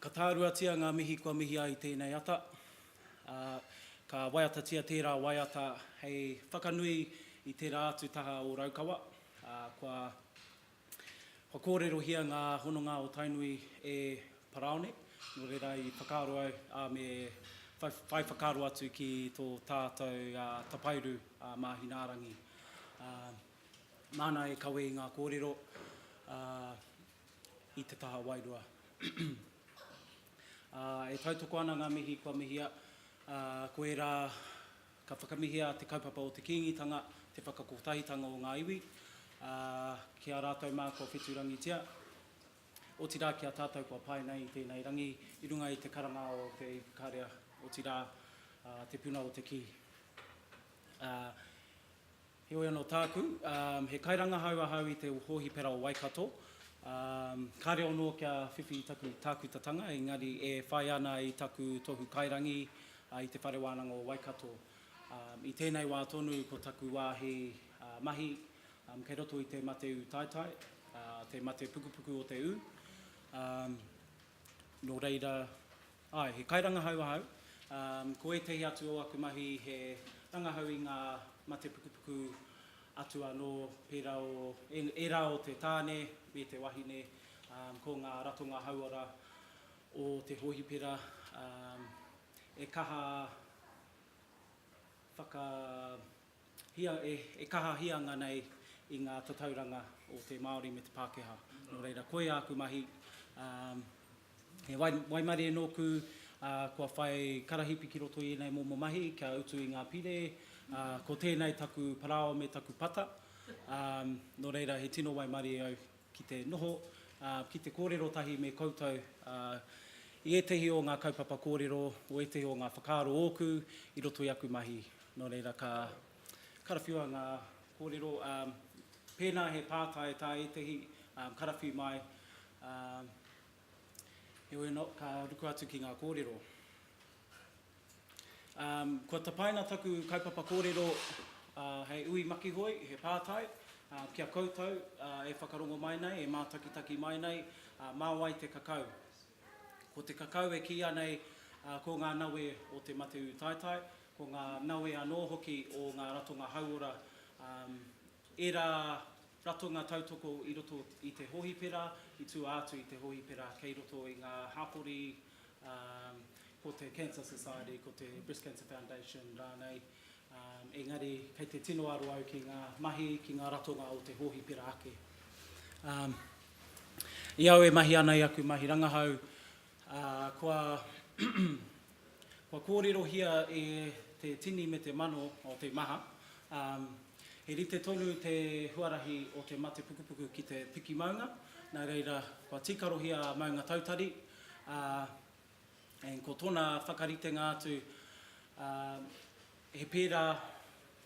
Ka tāruatia ngā mihi kua mihi ai tēnei ata, ā, ka waiatatia tērā waiata hei whakanui i tērā atu taha o Raukawa, ā, kua kōrerohia ngā hononga o Tainui e Parāone, nō reira i whakaaro au, ā, me whai whakaaro atu ki tō tātou tapairu a Māhinaarangi, ā, nāna e kawe i ngā kōrero, ā, i te taha wairua. E tautoko ana ngā mihi kua mihia, ā, ko ērā ka whakamihia te kaupapa o te Kīngitanga, te whakakotahitanga o ngā iwi, ā, ki a rātou mā kua whetūrangitia, otirā ki a tātou kua pae nei i tēnei rangi i runga i te karanga o te Ipukarea, otirā, ā, te puna o te kī. Ā, Heoi anō tāku, he kairangahau ahau i te hōhipera o Waikato, ka reo anō kia whiwhi i taku tākutatanga, engari e whai ana i taku tohu kairangi i Te Whare Wānanga o Waikato. I tēnei wā tonu ko taku wāhi mahi kei roto i te mate ū taetae, te mate pukupuku o te ū, nō reira, Āe, he kairangahau ahau. Ko ētahi atu o aku mahi he rangahau i ngā mate pukupuku atu anō, pērā o ērā o te tāne me te wahine, ko ngā ratonga hauora o te hōhipera e kaha whaka... Hia, e, e kahahia ana nei i ngā tatauranga o te Māori me te Pākehā. Nō reira, koia aku mahi, ā, he wai, waimarie nōku, ā, kua whai karahipi ki roto i ēnei momo mahi, kia utu i ngā pire, ā, ko tēnei taku parāoa me taku pata, ā, nō reira, he tino waimarie au. ki te noho, ā, ki te kōrero tahi me koutou, ā, i ētahi o ngā kaupapa kōrero, o ētahi o ngā whakaaro ōku i roto i aku mahi. Nō reira, ka karawhiua ngā kōrero, ā, pēnā he pātai tā ētahi, ā, karawhi mai, ā, heoi anō, ka ruku atu ki ngā kōrero. Kua tapaina taku kaupapa kōrero hei ui makihoi, he pātai ki a koutou e whakarongo mai nei, e mātakitaki mai nei, mā wai te kakau? Ko te kakau e kīia nei ko ngā nawe o te mate ūtaetae, ko ngā nawe anō hoki o ngā ratonga hauora, ērā ratonga tautoko i roto i te hōhipera, i tua atu i te hōhipera kei roto i ngā hapori, ko te Cancer Society, ko te Breast Cancer Foundation rānei, engari kei te tino aro au ki ngā mahi, ki ngā ratonga o te hōhipera ake. I au e mahi ana i aku mahi rangahau, kua kua kōrerohia e te tini me te mano o te maha, he rite tonu te huarahi o te mate pukupuku ki te piki maunga, nā reira kua tīkarohia a Maunga Tautari, Ā, and ko tōna whakaritenga atu, ā, he pērā,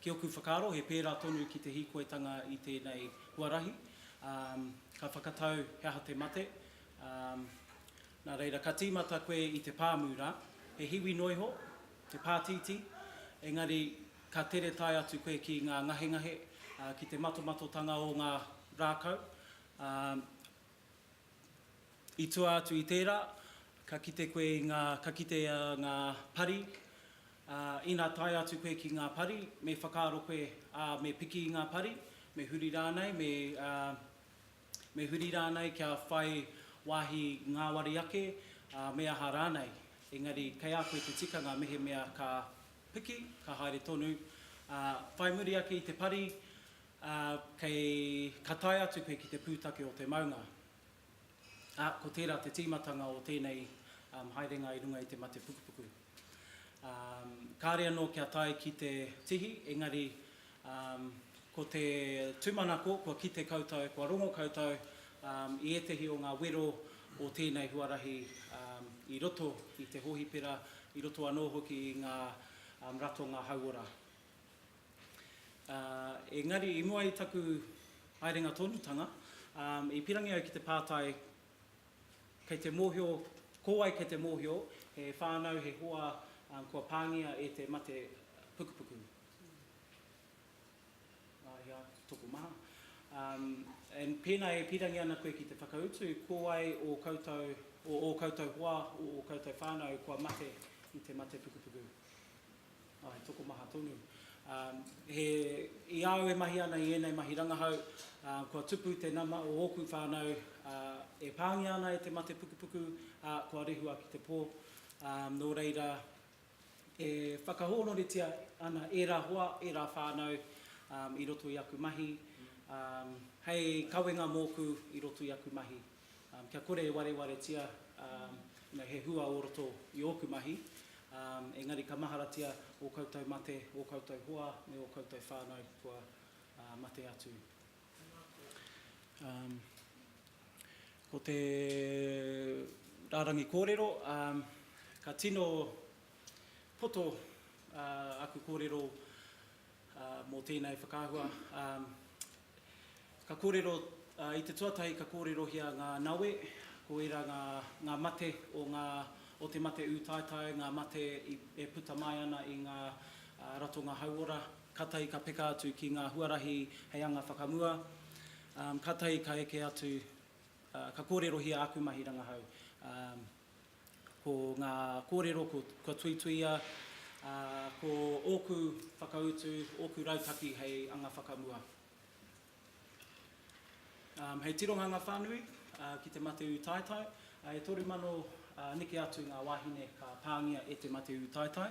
ki ōku whakaaro, he pērā tonu ki te hīkoitanga i tēnei huarahi, ā, ka whakatau he aha te mate, ā, nā reira, ka tīmata koe i te pāmu rā, he hiwi noa iho, he pātītī, engari ka tere tae atu koe ki ngā ngahengahe, ā, ki te matomatotanga o ngā rākau, ā, I tua atu i tērā, ka kite koe i ngā, ka kite a ngā pari, ā, ina tae atu koe ki ngā pari, me whakaaro koe, ā, me piki i ngā pari, me huri rānei, me, ā, me huri rānei kia whai wāhi ngāwari ake, ā, me aha rānei. Engari kei a koe te tikanga mehemea ka piki, ka haere tonu, ā, whai muri ake i te pari, Ā, kei, ka tae atu koe ki te pūtake o te maunga. Ā, ko tērā te tīmatanga o tēnei haerenga i runga i te mate pukupuku. Ā, kāre anō kia tae ki te tihi, engari, ā, ko te tūmanako kua kite koutou, kua rongo koutou, ā, i ētehi o ngā wero o tēnei huarahi, ā, i roto i te hōhipera, i roto anō hoki i ngā ratonga hauora. Engari, i mua i taku haerenga tonutanga, i pirangi au ki te pātai kei te mōhio, ko wai kei te mōhio he whānau, he hoa kua pāngia e te mate pukupuku? Ia, tokomaha. And pēnā e pirangi ana koe ki te whakautu, ko wai o koutou, o ō koutou hoa, o ō koutou whānau kua mate i te mate pukupuku? Oh, he tokomaha tonu. Um, he, i a au e mahi ana i ēnei mahi rangahau, uh, kua tupu te nama o ōku whānau uh, e pāngia ana e te mate pukupuku, ā, uh, kua rehua ki te pō. Um, nō reira, e whakahōnoritia ana ērā hoa, ērā whānau um, i roto i aku mahi, um, hei kawenga mōku i roto i aku mahi. Kia kore e warewaretia he hua o roto i ōku mahi, engari ka maharatia ō koutou mate, ō koutou hoa me ō koutou whānau kua mate atu. Ko te rārangi kōrero, ka tino poto aku kōrero mō tēnei whakaahua. Ka kōrero, i te tuatahi ka kōrerohia ngā nawe, ko ērā ngā, ngā mate o ngā, o te mate ūtaetae, ngā mate i, e puta mai ana i ngā ratonga hauora. Kātahi ka peka atu ki ngā huarahi hei anga whakamua. Kātahi ka eke atu, ka kōrerohia āku mahi rangahau. Ko ngā kōrero kua tuituia, ā, ko ōku whakautu, ōku rautaki hei anga whakamua. Um, hei tironga ngā whānui uh, ki te mate ūtaetae, uh, e toru mano uh, neke atu ngā wāhine ka pāngia e te mate ūtaetae,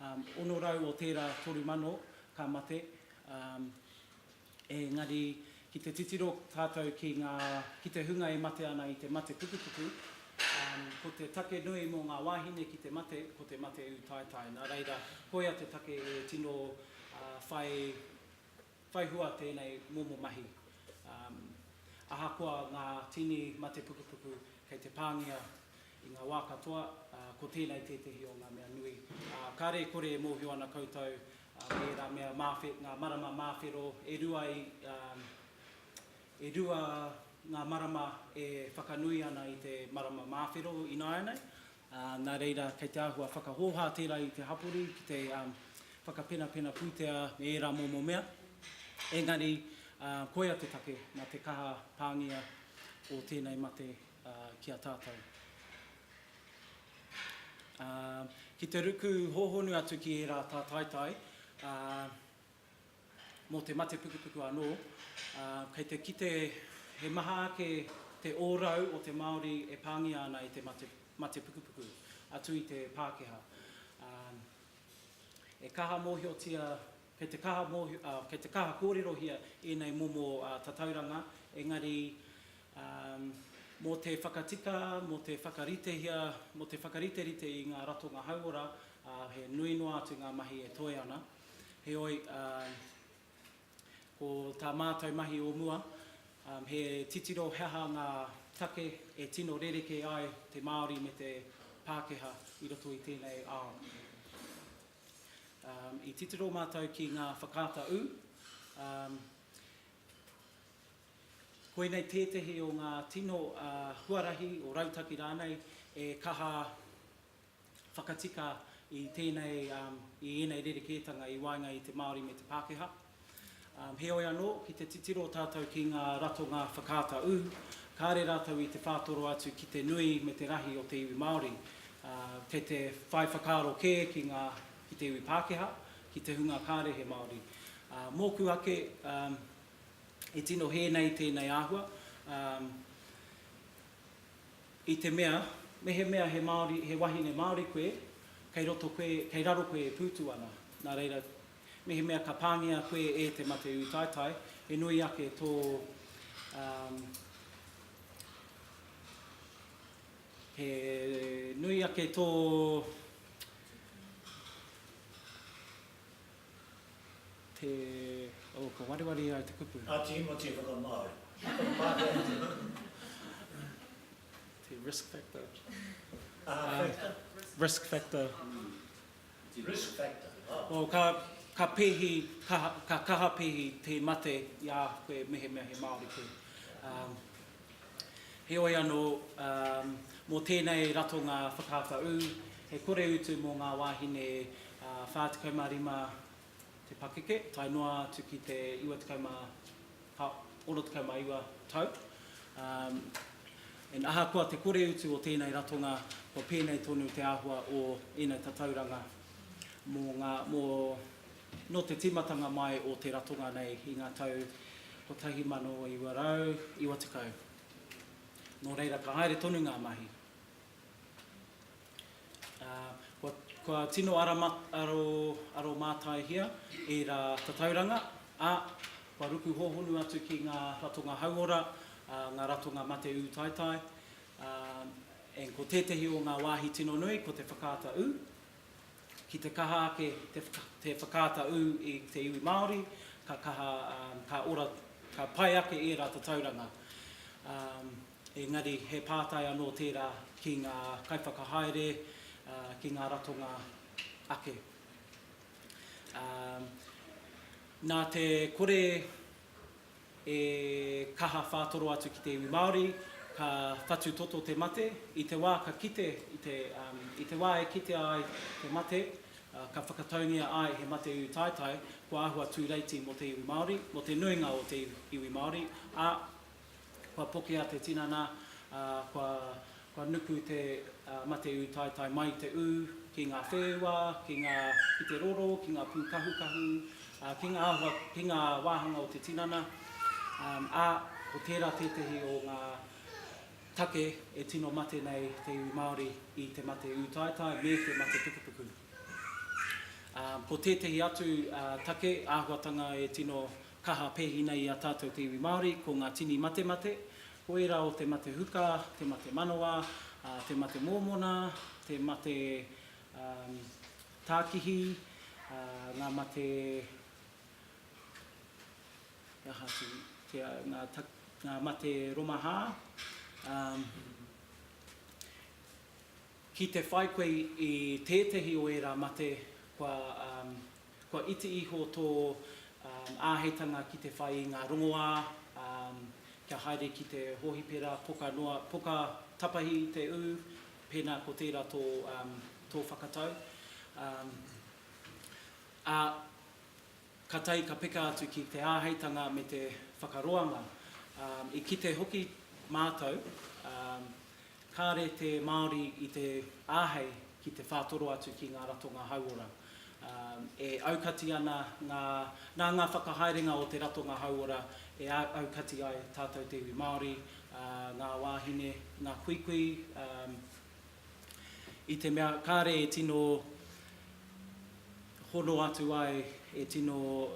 um, 600 o tērā toru mano ka mate, um, Engari, ki te titiro tātou ki ngā, ki te hunga e mate ana i te mate pukupuku, ko te take nui mō ngā wāhine ki te mate, ko te mate ūtaetae. Nā reira, koia te take e tino whai, whai hua tēnei momo mahi. Ahakoa ngā tini mate pukupuku, kei te pāngia I ngā wā katoa, ko tēnei tētehi o ngā mea nui. Kāre e kore e mōhio ana koutou me ērā mea, ngā marama māwhero, e rua i, e rua ngā marama e whakanui ana i te marama māwhero ināianei, nā reira kei te āhua whakahōhā tērā i te hapori ki te whakapenapena pūtea me ērā momo mea. Engari, koia te take, nā te kaha pāngia o tēnei mate ki a tātou. Ā, ki te ruku hōhonu atu ki ērā tātaitai, ā, mō te mate pukupuku anō, ā, kei te kite he maha ake te ōrau o te Māori e pāngia ana e te mate, mate pukupuku, atu i te Pākehā. Ā, e kaha mōhiotia Kei te kaha mōhio, ā, kei te kaha kōrerohia ēnei momo tatauranga, engari, ā, mō te whakatika, mō te whakaritehia, mō te whakariterite i ngā ratonga hauora, ā, he nui noa atu ngā mahi e toe ana. Heoi, ā, ko tā mātou mahi o mua, ā, he titiro he aha ngā take e tino rerekē ai te Māori me te Pākehā i roto i tēnei ao. I titiro mātou ki ngā whakaata ū. Koinei tētehi o ngā tino huarahi o rautaki rānei e kaha whakatika i tēnei, i ēnei rerekētanga i waenga i te Māori me te Pākehā. Heoi anō, ki te titiro tātou ki ngā ratonga whakaata ū, kāre rātou i te whātoro atu ki te nui me te rahi o te iwi Māori. Kei te whai whakaaro kē ki ngā, ki te iwi Pākehā, ki te hunga kāre he Māori. Mōku ake, e tino hē nei tēnei āhua, i te mea, mehemea he Māori, he wahine Māori koe, kei roto koe, kei raro koe e pūtu ana. Nā reira, Mehemea ka pāngia koe e te mate ūtaetae, he nui ake tō, um, he nui ake tō, te, oh, ka wareware ai te kupu. Ngā Tīmoti whakamāori. Te risk factor. Risk factor. Te risk factor, ah. Oh, ka, ka pehi, ka, ka kaha pehi te mate i a koe mehemea he Māori koe. Um, heoi anō, um, mō tēnei ratonga whakaata ū, he kore utu mō ngā wāhine uh, 45 te pakeke, tae noa atu ki te 89 tau. And ahakoa te kore utu o tēnei ratonga, kua pēnei tonu te āhua o ēnei tatauranga mō ngā, mō, nō te tīmatanga mai o te ratonga nei i ngā tau 1990. Nō reira, ka haere tonu ngā mahi. Kua tino aromātaihia ērā tatauranga, ā, kua ruku hōhonu atu ki ngā ratonga hauora, ngā ratonga mate ūtaetae, ā, ko tētehi o ngā wāhi tino nui ko te whakaata ū. Ki te kaha ake te whakaata ū i te iwi Māori, ka kaha, ka ora, ka pai ake ērā tatauranga. Engari, he pātai anō tērā ki ngā kaiwhakahaere, ki ngā ratonga ake. Nā te kore e kaha whātoro atu ki te iwi Māori, ka whatu toto te mate, i te wā ka kite, i te wā e kitea ai te mate, ka whakataungia ai he mate ūtaetae, kua āhua tūreiti mō te iwi Māori, mō te nuinga o te iwi Māori, ā, Kua pokea te tinana, ā, kua, kua nuku te, ā, mate ūtaetae mai i te ū, ki ngā whēua, ki ngā, ki te roro, ki ngā pūkahukahu, ā, ki ngā āhua, ki ngā wāhanga o te tinana, ā, ko tērā tētehi o ngā take e tino mate nei te iwi Māori i te mate ūtaetae me te mate pukupuku. Ā, ko tētehi atu, ā, take, āhuatanga e tino kaha pēhi nei i a tātou te iwi Māori, ko ngā tini matemate, ko ērā o te mate huka, te mate manawa, te mate mōmona, te mate tākihi, ngā mate, he aha atu, ngā mate romahā. Ki te whai koe i tētehi o ērā mate, kua Kua iti iho tō āheitanga ki te whai i ngā rongoā, kia haere ki te hōhipera, poka noa, poka tapahi te ū, pēnā ko tērā tō whakatau. Ā, ka tae ka peka atu ki te āheitanga me te whakaroanga. I kite hoki mātou Kāre te Māori i te āhei ki te whātoro atu ki ngā ratonga hauora. E aukati ana ngā, nā ngā whakahaerenga o te ratonga hauora e aukati ai tātou te iwi Māori, ngā wāhine, ngā kuikui, i te mea kāre e tino hono atu ai, e tino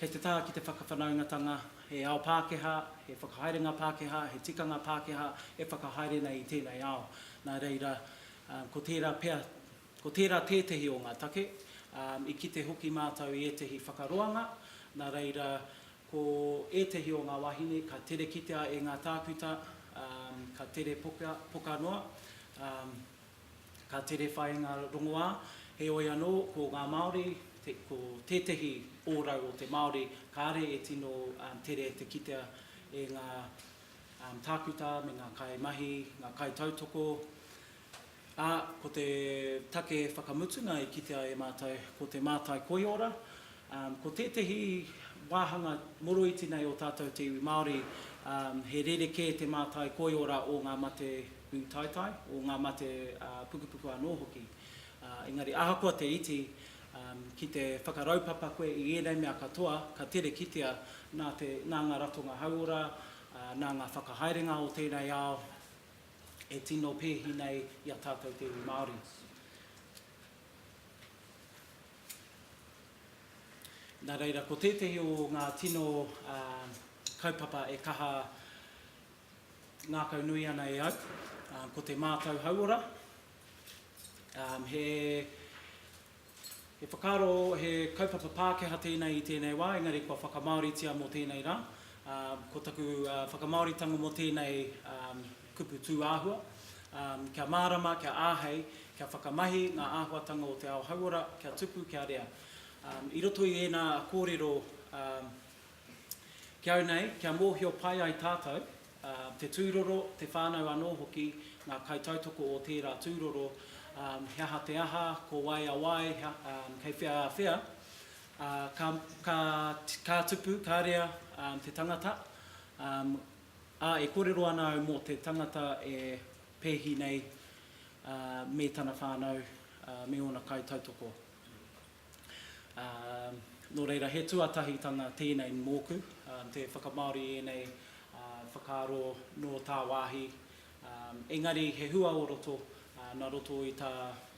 Kei te taha ki te whakawhanaungatanga, he ao Pākehā, he whakahaerenga Pākehā, he tikanga Pākehā e whakahaere nei i tēnei ao. Nā reira, ko tērā pea, ko tērā tētehi o ngā take. I kite hoki mātou i ētehi whakaroanga, nā reira, ko ētehi o ngā wāhine ka tere kitea e ngā tākuta, ka tere poka noa. Ka tere whai ngā rongoā, heoi anō, ko ngā Māori, ko tētehi ōrau o te Māori, kāre e tino tere te kitea e ngā tākuta me ngā kaimahi, ngā kaitautoko, ā, ko te take whakamutunga i kitea e mātou ko te mātai koiora, Ko tētehi wāhanga moroiti nei o tātou te iwi Māori, he rerekē te mātai koiora o ngā mate pūtaitai, o ngā mate pukupuku anō hoki. Engari ahakoa te iti, ki te whakaraupapa koe i ēnei mea katoa, ka tere kitea nā te, nā ngā ratonga hauora, nā ngā whakahaerenga o tēnei ao e tino pēhi nei i a tātou te iwi Māori. Nā reira, ko tētehi o ngā tino kaupapa e kaha ngākau nui ana e au, ko te mātau hauora. He whakaaro, he kaupapa Pākehā tēnei i tēnei wā, engari kua whakamāoritia mō tēnei rā. Ko taku whakamāoritanga mō tēnei Kupu tūāhua, Kia mārama, kia āhei, kia whakamahi ngā āhuatanga o te ao hauora, kia tupu, kia rea. I roto i ēnā kōrero ki au nei, kia mōhio pai ai tātou, te tūroro, te whānau anō hoki, ngā kaitautoko o tērā tūroro, he aha te aha, ko wai a wai, kei whea a whea, ka tupu, ka rea te tangata. Ā, e kōrero ana au mō te tangata e pēhi nei, ā, me tana whānau, ā, me ōna kaitautoko. Ā, nō reira, he tuatahitanga tēnei mōku, ā, te whakamāori i ēnei, ā, whakaaro nō tāwāhi, ā, engari he hua o roto, ā, nā roto i tā,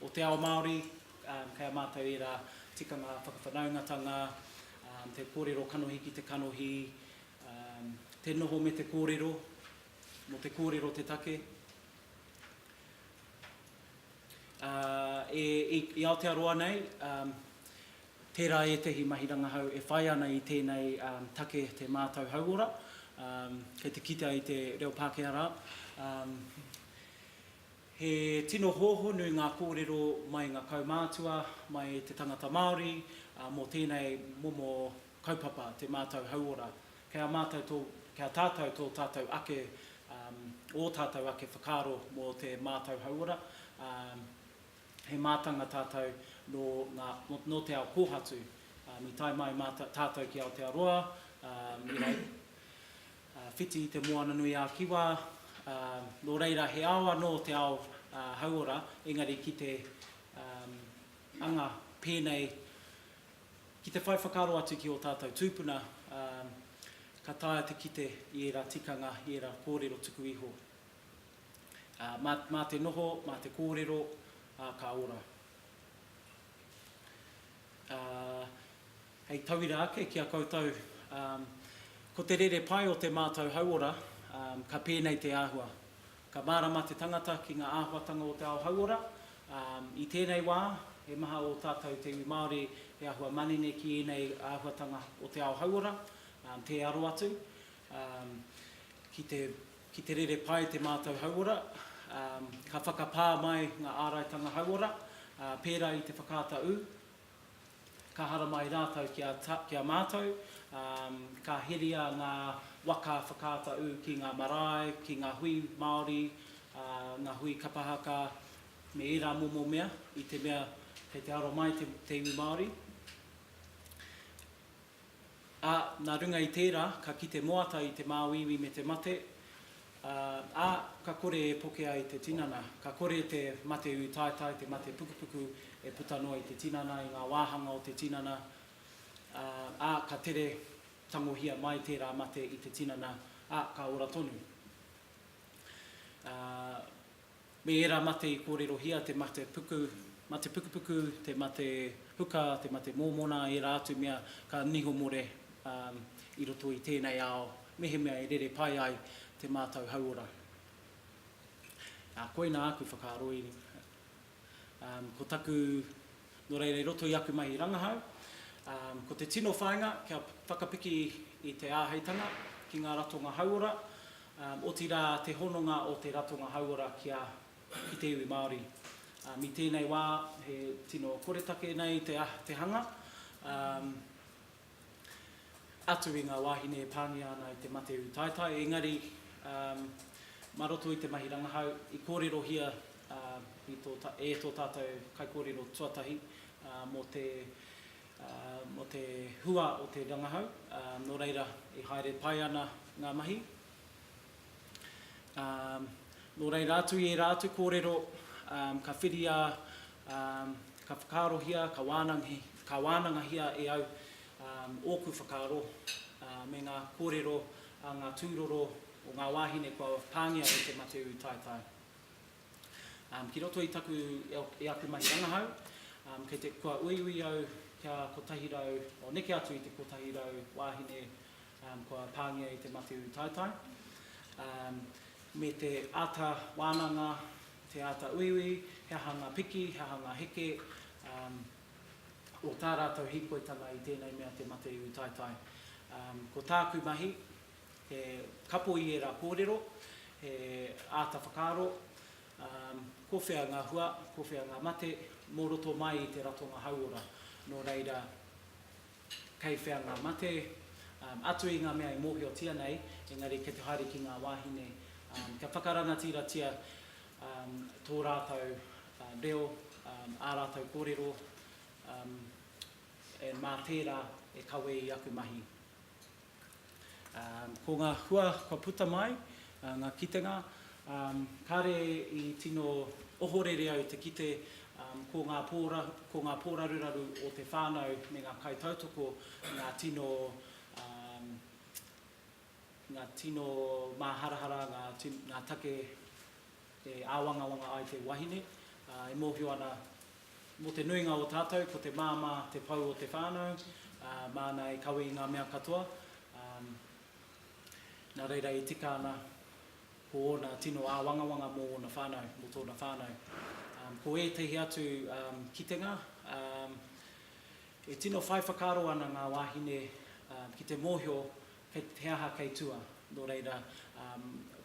o te ao Māori, ā, kei a mātou ērā tikanga whakawhanaungatanga, ā, te kōrero kanohi ki te kanohi, Te noho me te kōrero, mō te kōrero te take. I Aotearoa nei, tērā ētehi mahi rangahau e whai ana i tēnei take te mātau hauora, kei te kitea i te reo Pākehā rā. He tino hōhonu ngā kōrero mai i ngā kaumātua, mai i te tangata Māori mō tēnei momo kaupapa, te mātau hauora, kei a mātau tō, kei a tātau tō tātau ake, ō tātau ake whakaaro mō te mātau hauora, he mātanga tātau nō ngā, nō te ao kōhatu, i tae mai mātau, tātau ki Aotearoa, i whai, whiti i te Moana nui ā Kiwa, nō reira he ao anō te ao hauora, engari ki te anga pēnei, Ki te whai whakaaro atu ki ō tātou tūpuna, ā, ka taea te kite i ērā tikanga, i ērā kōrero tuku iho. Ā, mā, mā te noho, mā te kōrero, ā, ka ora. Ā, hei tauira ake ki a koutou, ā, ko te rere pai o te mātau hauora, ā, ka pēnei te āhua, Ka mārama te tangata ki ngā āhuatanga o te ao hauora, ā, i tēnei wā, he maha ō tātou te iwi Māori he āhua manene ki ēnei āhuatanga o te ao hauora, ā, tē aro atu, ā, ki te, ki te rere pai te mātou hauora, ā, ka whakapā mai ngā āraitanga hauora, ā, pērā i te whakaata ū, Ka haramai ai rātou ki a, ki a mātou, ā, ka heria ngā waka whakaata ū ki ngā marae, ki ngā hui Māori, ā, ngā hui kapa haka, me ērā momo mea, i te mea kei te aro mai te, te iwi Māori. Ā, nā runga i tērā, ka kite moata i te māuiui me te mate, ā, ā, ka kore e poke ai te tinana. Ka kore te mate ūtaetae, te mate pukupuku e puta noa i te tinana, i ngā wāhanga o te tinana, ā, ā, ka tere tangohia mai tērā mate i te tinana, ā, ka ora tonu. Ā. Me ērā mate i kōrerohia te mate puku, mate pukupuku, te mate huka, te mate mōmona, ērā atu mea ka niho more i roto i tēnei ao mehemea e rere pai ai te mātau hauora. Ā, koina aku whakaaro i runga. Ko taku Nō reira, i roto i aku mahi rangahau, ko te tino whāinga kia whakapiki i te āheitanga ki ngā ratonga hauora, otirā te hononga o te ratonga hauora ki te iwi Māori. I tēnei wā, he tino koretake nei te hanga. atu i ngā wāhine e pāngia ana i te mate ūtaetae, engari mā roto i te mahi rangahau i kōrerohia e tō tātou kaikōrero tuatahi mō te mō te hua o te rangahau, nō reira e haere pai ana ngā mahi. Nō reira atu i ērā atu kōrero ka whiria, ka whakaarohia, ka wānangahia e au ōku whakaaro me ngā kōrero a ngā tūroro o ngā wāhine kua pāngia e Te Mateū Taetae. Ki roto i taku, i aku mahi rangahau, kei te, kua uiui au kia kotahi rau, o neke atu i te kotahi rau wāhine kua pāngia e Te Matiu Taetae, me te āta wānanga, te āta uiui, he aha ngā piki, he aha ngā heke o tā rātou hīkoitanga i tēnei mea te mate iwi taetae. Ko tāku mahi, he kapo i ērā kōrero, he āta whakaaro, ko whea ngā hua, ko whea ngā mate, mō roto mai i te ratonga hauora, nō reira, Kei whea ngā mate? Atu i ngā mea e mōhiotia nei, engari kei te haere ki ngā wāhine, kia whakarangatiratira tō rātou reo, ā rātou kōrero, mā tērā e kawe i aku mahi. Ko ngā hua kua puta mai, ngā kitenga, kāre i tino ohorere au te kite ko ngā ko ngā pōraruraru o te whānau me ngā kaitautoko ngā tino ngā tino māharahara, ngā take e āwangawanga ai te wahine, ā, e mōhio ana mō te nuinga o tātou ko te māmā te pou o te whānau, ā, māna e kawe i ngā mea katoa, ā, nā reira e tika ana ko ōna tino āwangawanga mō ōna whānau, mō tōna whānau. Ā, ko ētahi atu, ā, kitenga, ā, e tino whai whakaaro ana ngā wāhine, ā, ki te mōhio He aha kei tua? Nō reira,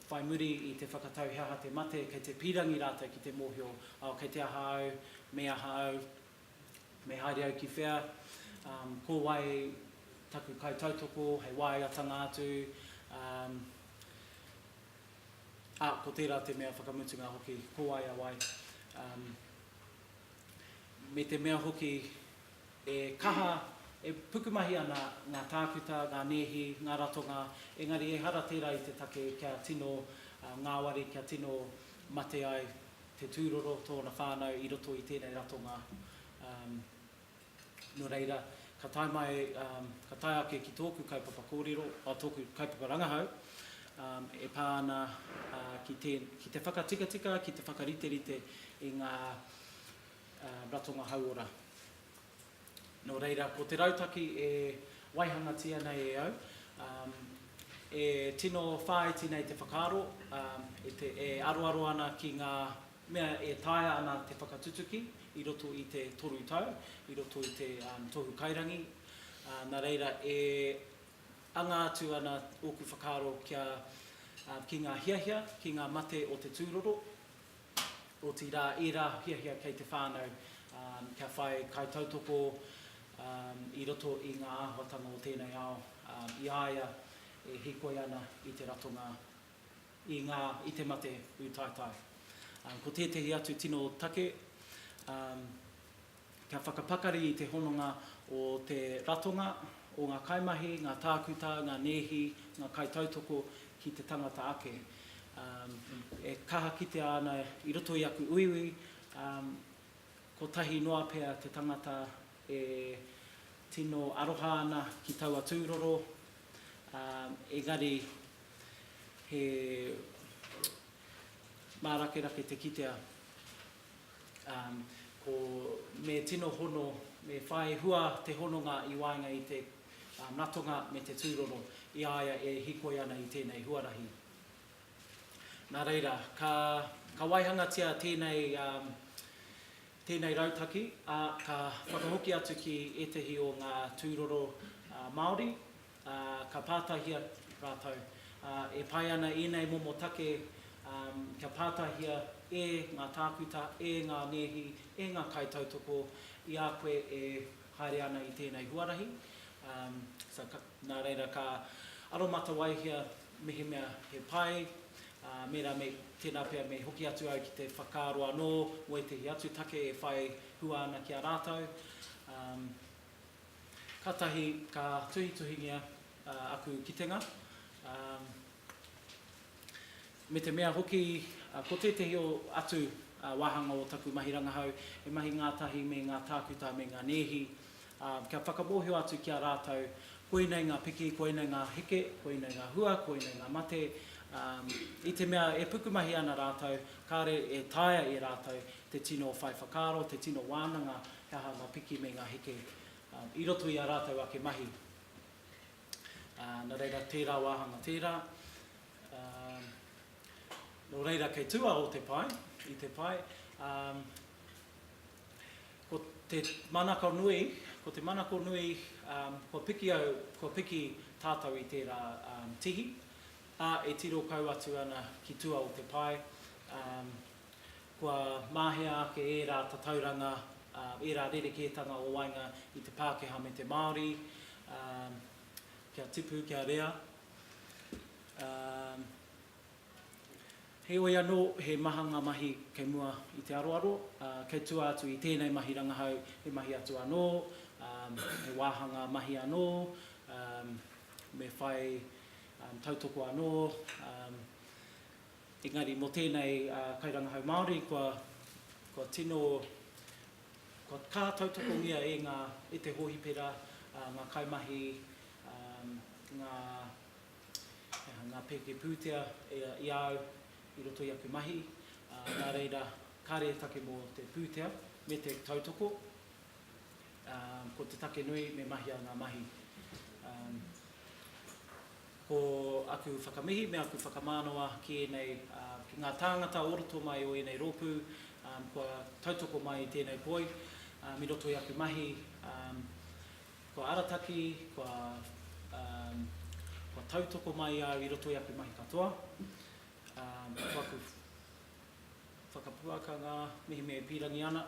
whai muri i te whakatau he aha te mate, kei te pīrangi rātou ki te mōhio, oh, kei te aha au, me aha au, me haere au ki whea, ko wai taku kaitautoko, hei wāeatanga atu, ā, ko tērā te mea whakamutunga hoki, ko wai a wai. Me te mea hoki, He kaha e pukumahi ana ngā tākuta, ngā nēhi, ngā ratonga, engari ehara tērā i te take kia tino ngāwari, kia tino mate ai te tūroro, tōna whānau i roto i tēnei ratonga. Nō reira, ka tae mai, ka tae ake ki tōku kaupapa kōrero, tōku kaupapa rangahau e pā ana ki te whakatikatika, ki te whakariterite i ngā Ratonga Hauora. Nō reira, ko te rautaki e waihangatia nei e au, e tino whāiti nei te whakaaro, e aroaro ana ki ngā mea e taea ana te whakatutuki i roto i te toru tau, i roto i te Tohu Kairangi, nā reira, e anga atu ana ōku whakaaro ki ngā hiahia, ki ngā mate o te tūroro, otirā ērā hiahia kei te whānau kia whai kaitautoko i roto i ngā āhuatanga o tēnei ao i a ia e hīkoi ana i te ratonga i ngā i te mate ūtaetae. Ko tētehi atu tino take Kia whakapakari i te hononga o te ratonga, o ngā kaimahi, ngā tākuta, ngā nēhi, ngā kaitautoko ki te tangata ake. E kaha kitea ana i roto i aku uiui, kotahi noa pea te tangata e tino aroha ana ki taua tūroro, engari he mārakerake te kitea Ko Me tino hono, me whai hua te hononga i waenga i te natonga me te tūroro i a ia e hikoi ana i tēnei huarahi. Nā reira, ka, ka waihangatia tēnei, tēnei rautaki, ā, ka whakahoki atu ki ētehi o ngā tūroro Māori, ā, ka pātahia rātou, ā, e pai ana ēnei momo take, ā, kia pātahia e ngā tākuta, e ngā nēhi, e ngā kaitautoko i a koe e haere ana i tēnei huarahi, ā, so ka, nā reira ka aromatawaihia mehemea he pai, ā, mēnā me, tēnā pea me hoki atu au ki te whakaaro anō mō ētehi atu take e whai hua ana ki a rātou, ā, Kātahi ka tuhituhingia aku kitenga, me te mea hoki ko tētehi atu wāhanga o taku mahi rangahau he mahi ngātahi me ngā tākuta me ngā nēhi, kia whakamōhio atu ki a rātou koinei ngā piki, koinei ngā heke, koinei ngā hua, koinei ngā mate, i te mea e pukumahi ana rātou, kāre e taea e rātou te tino whai whakaaro, te tino wānanga He aha ngā piki me ngā heke i roto i ā rātou ake mahi? Nā reira, tērā wāhanga tērā. Nō reira, kei tūao te pae, i te pae. Ko te manako nui, ko te manako nui, kua piki au, kua piki tātou i tērā tihi, ā, e tiro kau atu ana ki tua o te pae. Kua mahea ake ērā tatauranga, ērā rerekētanga o waenga i te Pākehā me te Māori, kia tipu, kia rea. Heoi anō, he maha ngā mahi kei mua i te aroaro, kei tua atu i tēnei mahi rangahau he mahi atu anō, he wāhanga mahi anō, me whai tautoko anō. Engari mō tēnei kairangahau Māori kua tino, kua ka tautokongia e ngā, e te hōhipera, ngā kaimahi, ngā, he aha, ngā pēke pūtea i a au i roto i aku mahi, nā reira kāre e take mō te pūtea me te tautoko, ko te take nui me mahia ngā mahi. Ko aku whakamihi me aku whakamānawa ki ēnei, ki ngā tāngata o roto mai o ēnei rōpū, kua tautoko mai i tēnei poi, i roto i aku mahi, kua arataki, kua, kua tautoko mai au i roto i aku mahi katoa, ko aku whakapuakanga mehemea e pīrangi ana,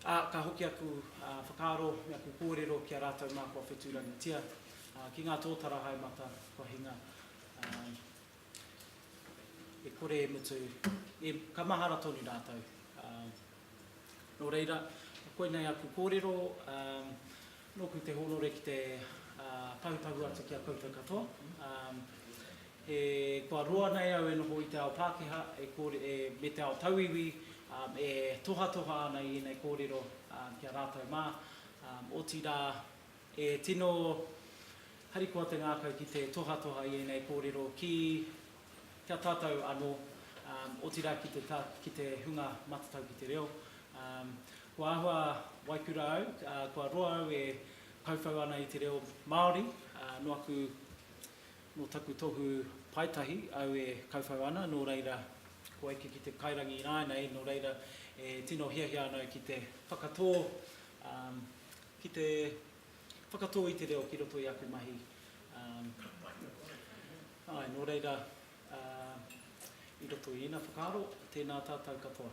Ā, ka hoki aku whakaaro me aku kōrero ki a rātou mā kua whetūrangitia, ā, ki ngā tōtara haemata kua hinga, ā, e kore e mutu, e, ka mahara tonu rātou. Ā, nō reira, koinei aku kōrero, ā, nōku te hōnore ki te, ā, pahūpahū atu ki a koutou katoa, ā, E kua roa nei au e noho i te ao Pākehā me te ao tauiwi e tohatoha ana i ēnei kōrero ki a rātou mā, otirā e tino harikoa te ngākau ki te tohatoha i ēnei kōrero ki a tātou anō, otirā ki te hunga matatau ki te reo. Kua āhua waikura au, kua roa au e kauwhau ana i te reo Māori, nō aku Nō taku tohu paetahi au e kauwhau ana, nō reira kua eke ki te kairangi ināianei, nō reira e tino hiahia ana au ki te whakatō, ki te whakatō i te reo ki roto i aku mahi. Āe, nō reira, i roto i ēnā whakaaro, tēnā tātou katoa.